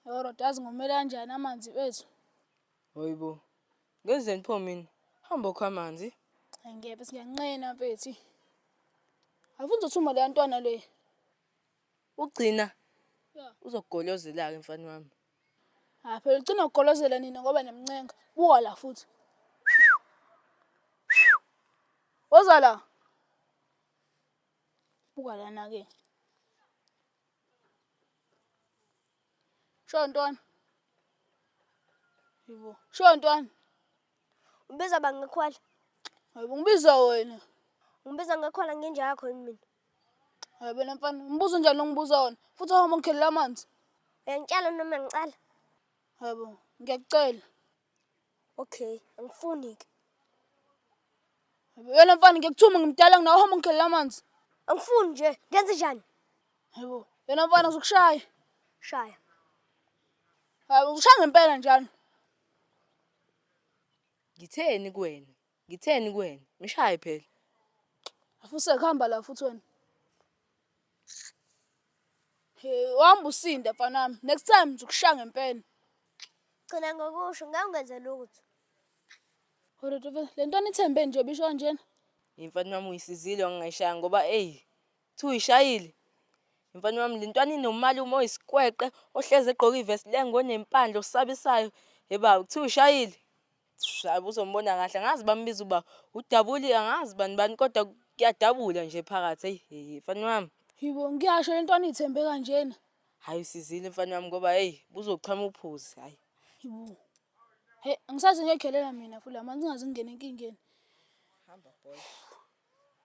Yebo Roda azi ngomele kanjani amanzi wethu. Hoyibo. Ngeze ngipho mina. Hamba okho amanzi. Angebe siyanqena mfethu. Awufuni uzothuma le ntwana le. Ugcina. Yeah. Uzogolozela ke mfana wami. Ha ah, phela ugcina ugolozela nina ngoba nemncenga. Buka la futhi. Woza la. Buka lana ke. Sho ntwana. Yibo. Sho ntwana. Ubiza bangekhwala. Hayibo ngibiza wena. Ngibiza ngekhwala ngenja yakho yini mina? Hayibo wena mfana, umbuzo njani ongibuza wona? Futhi uhamba ngikhelela amanzi. Uyangitshela noma ngicela? Hayibo, ngiyakucela. Okay, angifuni ke. Yena mfana ngikuthuma ngimdala nginawo hamba ngikhelela amanzi. Angifuni nje, ngenze njani? Hayibo, yena mfana uzokushaya. Shaya. Hayi, ushaya ngempela njalo. Ngitheni kuwena? Ngitheni kuwena? Mshaye phela. Afuse kuhamba la futhi wena. Hey, uhamba usinde mfanami. Next time ngizokushaya ngempela. Gcina ngokusho ngangwenze lutho. Horodo phela le nto nithembe nje bisho kanjena. Imfana wami uyisizile wangayishaya ngoba ey thi uyishayile. Imfana wami le ntwana inomali uma oyisikweqe ohleze egqoka ivest lengo onempandla osabisayo. Heba uthi uyishayile. Shayi uzombona kahle angazi bambiza uba udabuli angazi bani bani kodwa kuyadabula nje phakathi eyi heyi mfana wami. Yibo ngiyasho le ntwana ithembe kanjena. Hayi usizile mfana wami ngoba heyi buzochama uphuzi hayi. Yibo. Hey angisazi ngekhelela mina futhi lamanzi ngazi ngingena enkingeni. Hamba boy.